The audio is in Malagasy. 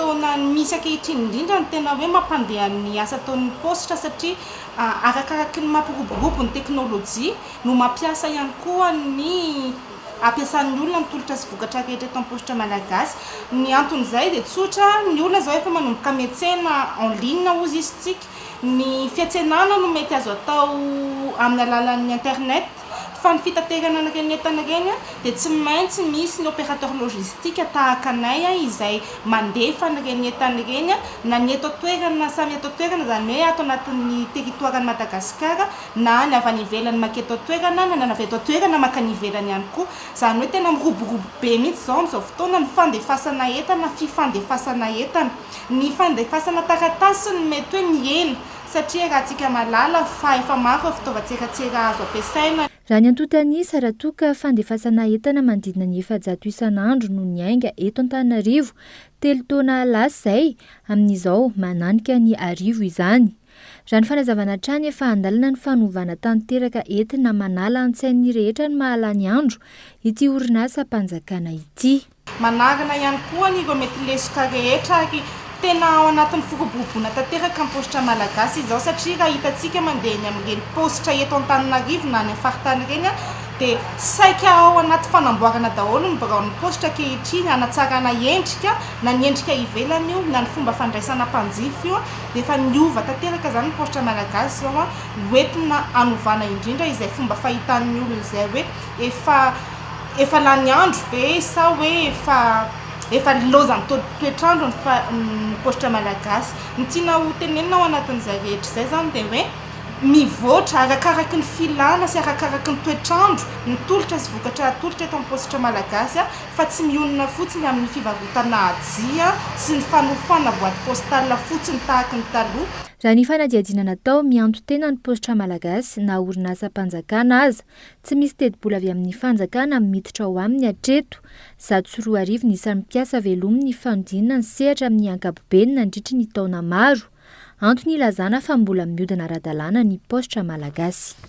Taona misy ankehitriny indrindra no tena hoe mampandeha ny asa ataon'ny paositra satria arakaraky ny mampiroborobo ny teknolojia no mampiasa ihany koa ny ampiasan'ny olona ny tolotra sy vokatra rehetra eto am-paositra malagasy. Ny anton'izay dia tsotra, ny olona izao efa manomboka miantsena en ligne hozy isntsika, ny fiantsenana no mety azo atao amin'ny alalan'ny internet. Fa ny fitaterana an'ireny entana ireny dia tsy maintsy misy ny opérateur logistique tahaka anay izay mandefa an'ireny entana ireny na ny eto an-toerana na samy eto an-toerana, izany hoe ato anatin'ny territoire-n'i Madagasikara na ny avy any ivelany maka eto an-toerana na ny avy eto an-toerana maka any ivelany ihany koa. Izany hoe tena miroborobo be mihitsy izao amin'izao fotoana ny fandefasana entana, fifandefasana entana. Ny fandefasana taratasy no mety hoe mihena Satria raha tsika malala fa efa maro ireo fitaovan-tseratsera azo ampiasaina. Raha ny antontan'isa, raha toa ka fandefasana entana manodidina ny efajato isan'andro no niainga eto Antananarivo telo taona lasa izay, amin'izao mananika ny arivo izany. Raha ny fanazavana hatrany, efa an-dalana ny fanovana tanteraka entina manala an-tsain'ny rehetra ny mahalany andro ity orinasa mpanjakana ity. Manarina ihany koa ny ireo mety lesoka rehetra ary tena ao anatin'ny firoboroboana tanteraka ny paositra malagasy izao satria raha hitantsika mandeha eny amin'ireny paositra eto Antananarivo na any amin'ny faritany ireny dia saika ao anaty fanamboarana daholo ny biraon'ny paositra ankehitriny hanatsarana endrika na ny endrika ivelany io na ny fomba fandraisana mpanjifa io dia efa niova tanteraka izany ny paositra malagasy izao hoentina hanovana indrindra izay fomba fahitan'ny olona izay hoe efa efa lany andro ve sa hoe efa efa nilaozan'ny toetr'andro ny fa ny paositra malagasy? Ny tiana ho tenenina ao anatin'izay rehetra izay izany dia hoe mivoatra arakaraky ny filana sy arakaraky ny toetr'andro ny tolotra sy vokatra atolotra eto amin'ny paositra malagasy fa tsy mionona fotsiny amin'ny fivarotana ajia sy ny fanofoana boite postale fotsiny tahaka ny taloha. Raha ny fanadihadiana natao, mianto-tena ny paositra malagasy na orinasam-panjakana aza Tsy misy tetibola avy amin'ny fanjakana miditra ao aminy hatreto. Zato sy roa arivo ny isan'ny mpiasa velomin' ny fanodinana ny sehatra amin'ny ankapobeny nandritry ny taona maro. Antony ilazana fa mbola miodina ara-dalàna ny paositra malagasy.